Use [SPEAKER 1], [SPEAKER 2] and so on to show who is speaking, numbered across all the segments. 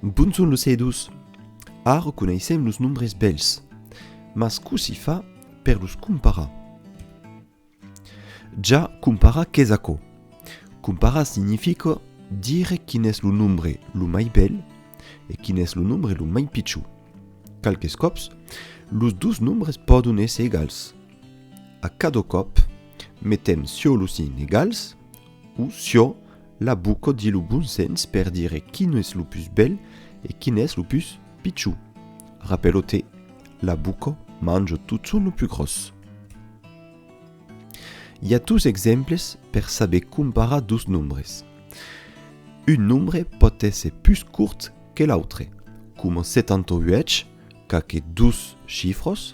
[SPEAKER 1] Bon son los edus! Ara coneissèm los nombres bèls, mas cossí fa per los comparar? Ja, comparar qu'es aquò. Comparar significa dire quin es lo nombre lo mai bèl e quin es lo nombre lo mai pichon. Qualques còps, los dos nombres pòdon èsser egals. A cada còp, metem siò lo signe egals. O siò, la buco di lo bon sens per dire quin es lo pus bèl e quin es lo pus pichon. Rapèlo te, la buco manjo totson lo pus gròs. I a dos exemples per saber comparar dos nombres. Un nombre pòt èsser pus cort que l'autre, coma 78 qu'a que dos chifròs,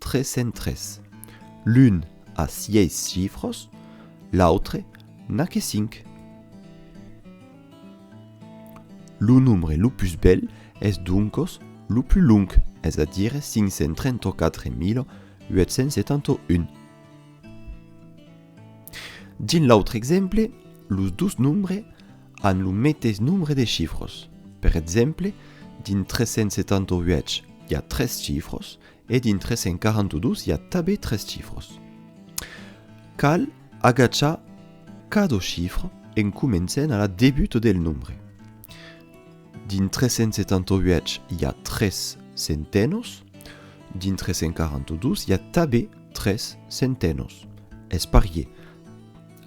[SPEAKER 1] 303. L'un a sièis chifros, l'autre n'a que cinc. Lo nombre lo pus bèl es doncos lo pus long, es a dire 534871. Dins l'autre exemple, los dos nombres an lo meteis nombre de chifros. Per exemple, dins 378 i a tres chifros E dins 342 i a tabé tres chifros. Cal agachar cado chifre en comencent a la debut del nombre. Dins 378 i a tres centenos, dins 342 i a tabé tres centenos. Es parier.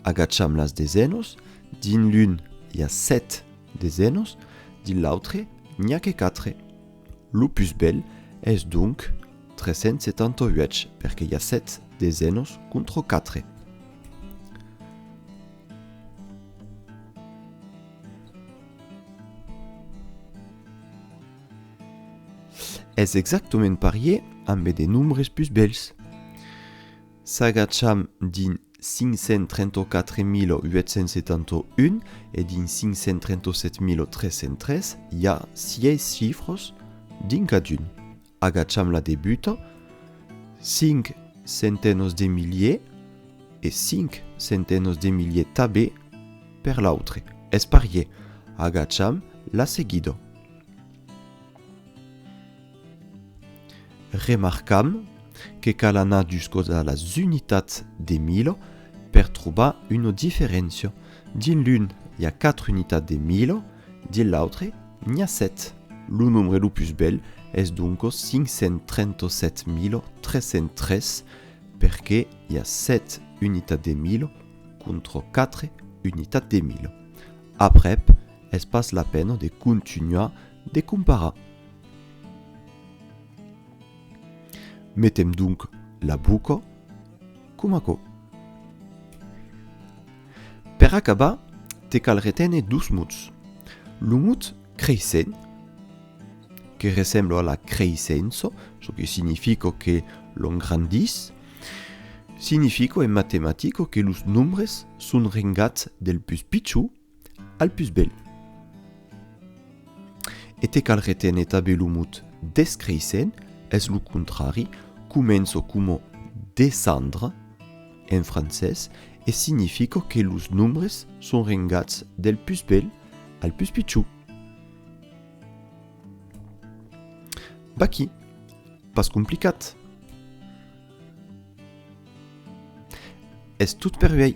[SPEAKER 1] Agacham las desenos, dins l'un i a set desenos, dins l'autre n'i a que quatre. Lo pus bèl es donc 378 perque i a 7 desenos contro 4. Es exactament parier ambe de nombres pus bèls. S'agacham dins. 534.871 e dins 537.303 i a sièis chifras dins cadun. Agacham la debuta, 5 centenòs de miliers e 5 centenòs de miliers tabé per l'autre, es parier. Agacham la seguida. Remarcam que cal anar juscòs a las unitats de milo per trobar una diferéncia, dins l'un i a 4 unitats de milo, dins l'autre n'i a 7. Lo nombre lo pus bèl es doncas 537303 perque i a 7 unitats de milo contra 4 unitats de milo. Aprèp, es pas la pena de contunhar De comparar. Metem donc la boca com aquò. Per acabar, te cal reténer dos mots. Lo mot creissent, que ressembla a la creissença, çò que significa que l'on grandís, significa en matematica que los nombres son rengats del pus pichon al pus bèl. E te cal reténer tabé lo mot descréisser, es lo contrari, començo coma descendre en francés e significo que los nombres son rengats del pus bèl al pus pichon. Vaqui, pas complicat. Es tot per uèi.